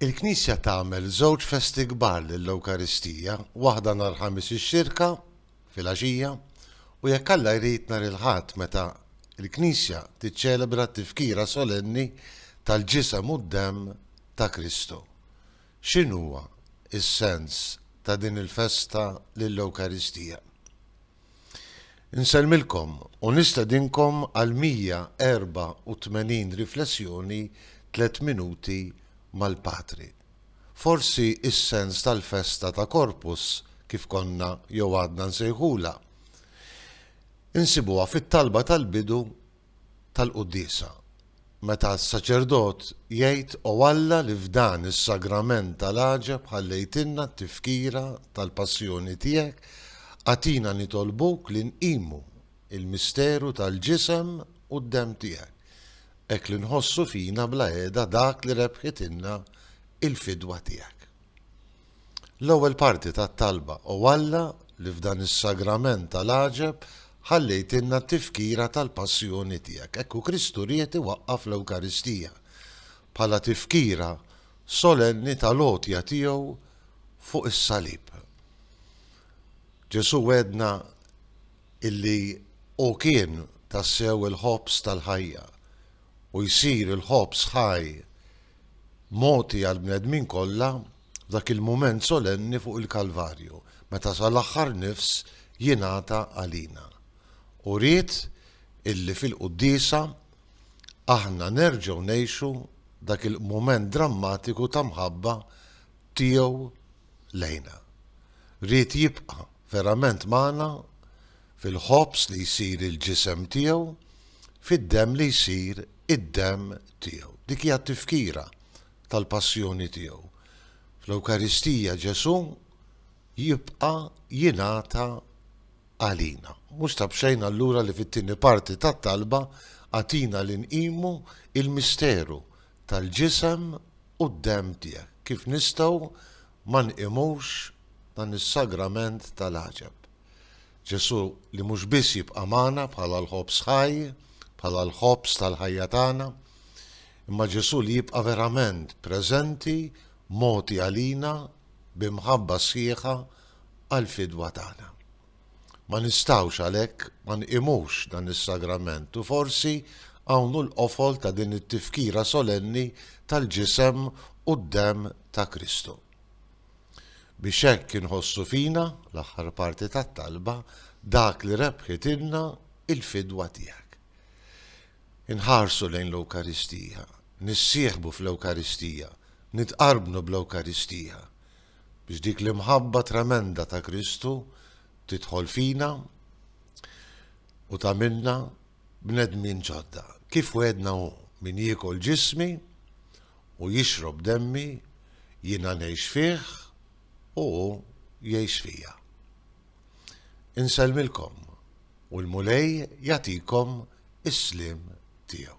Il-Knisja tagħmel żewġ festi kbar lill-Ewkaristija, waħda nhar Ħamis ix-Xirka, filgħaxija, u jekk Alla jrid nhar il-Ħadd meta l-Knisja tiċċelebra t-Tifkira Solenni tal-Ġisem u d-Demm ta' Kristu. X'inhuwa s-sens ta' din il-festa lill-Ewkaristija? Insellmilkom u nistedinkom għal 184 riflessjoni Tliet Minuti mal-Patri. Forsi is-sens tal-festa ta' Corpus, kif konna jew għadna nsejħulha, insibuha fit-talba tal-bidu tal-quddiesa, meta s-saċerdot jgħid O Alla li f'dan is-sagrament tal-għaġeb ħallejtilna t-tifkira tal-passjoni tiegħek, agħtina nitolbuk li nqimu l-misteru tal-ġisem u d-demm tiegħek, hekk li nħossu fina bla heda dak li rebħitilna l-fidwa tiegħek. L-ewwel parti tat-talba, O Alla, li f'dan is-Sagrament tal-għaġeb ħallejtilna t-tifkira tal-Passjoni tiegħek. Hekk hu Kristu ried iwaqqaf l-Ewkaristija bħala tifkira solenni tal-għotja tiegħu fuq is-salib. Ġesù wegħedna illi hu kien tassew il-ħobż tal-ħajja u jsir il-ħobż ħaj mogħti għall-bnedmin kollha f'dak il-mument solenni fuq il-Kalvarju, meta sal-aħħar nifs jingħata għalina. U ried illi fil-Quddiesa aħna nerġgħu ngħixu dak il-mument drammatiku ta' mħabba Tiegħu lejna. Ried jibqa' verament magħna fil-ħobż li jsir il-Ġisem Tiegħu, fid-Demm li jsir id-demm tiegħu. Dik hija t-tifkira tal-passjoni tiegħu. Fl-Ewkaristija Ġesù jibqa' jingħata għalina. Mhux ta' b'xejn allura li fit-tieni parti tat-talba għatina li nqimu il-misteru tal-ġisem u d-demm tiegħek. Kif nistgħu ma nqimux dan is-sagrament tal-għaġeb? Ġesù li mhux biss jibqa' magħna bħala l-ħobż ħaj, bħala l-ħobż tal-ħajja tagħna, imma Ġesù li jibqa' verament preżenti, mogħti għalina bi mħabba sħiħa għall-fidwa tagħna. Ma nistgħux għalhekk ma nqimux dan is-sagrament u forsi hawn hu l-qofol ta' din it-tifkira solenni tal-ġisem u d-demm ta' Kristu. biex hekk inħossu fina, l-aħħar parti tat-talba, dak li rebħitilna l-fidwa tiegħek. Inħarsu lejn l-Ewkaristija, nissieħbu fl-Ewkaristija, nitqarbnu bl-Ewkaristija, biex dik l-imħabba tremenda ta' Kristu tidħol fina u tagħmilna bnedmin ġodda. Kif wegħedna hu, Min jiekol ġismi u jixrob demmi, jiena ngħix fih u hu jgħix fija. Insellmilkom u l-Mulej jagħtikom is-sliem tiegħu.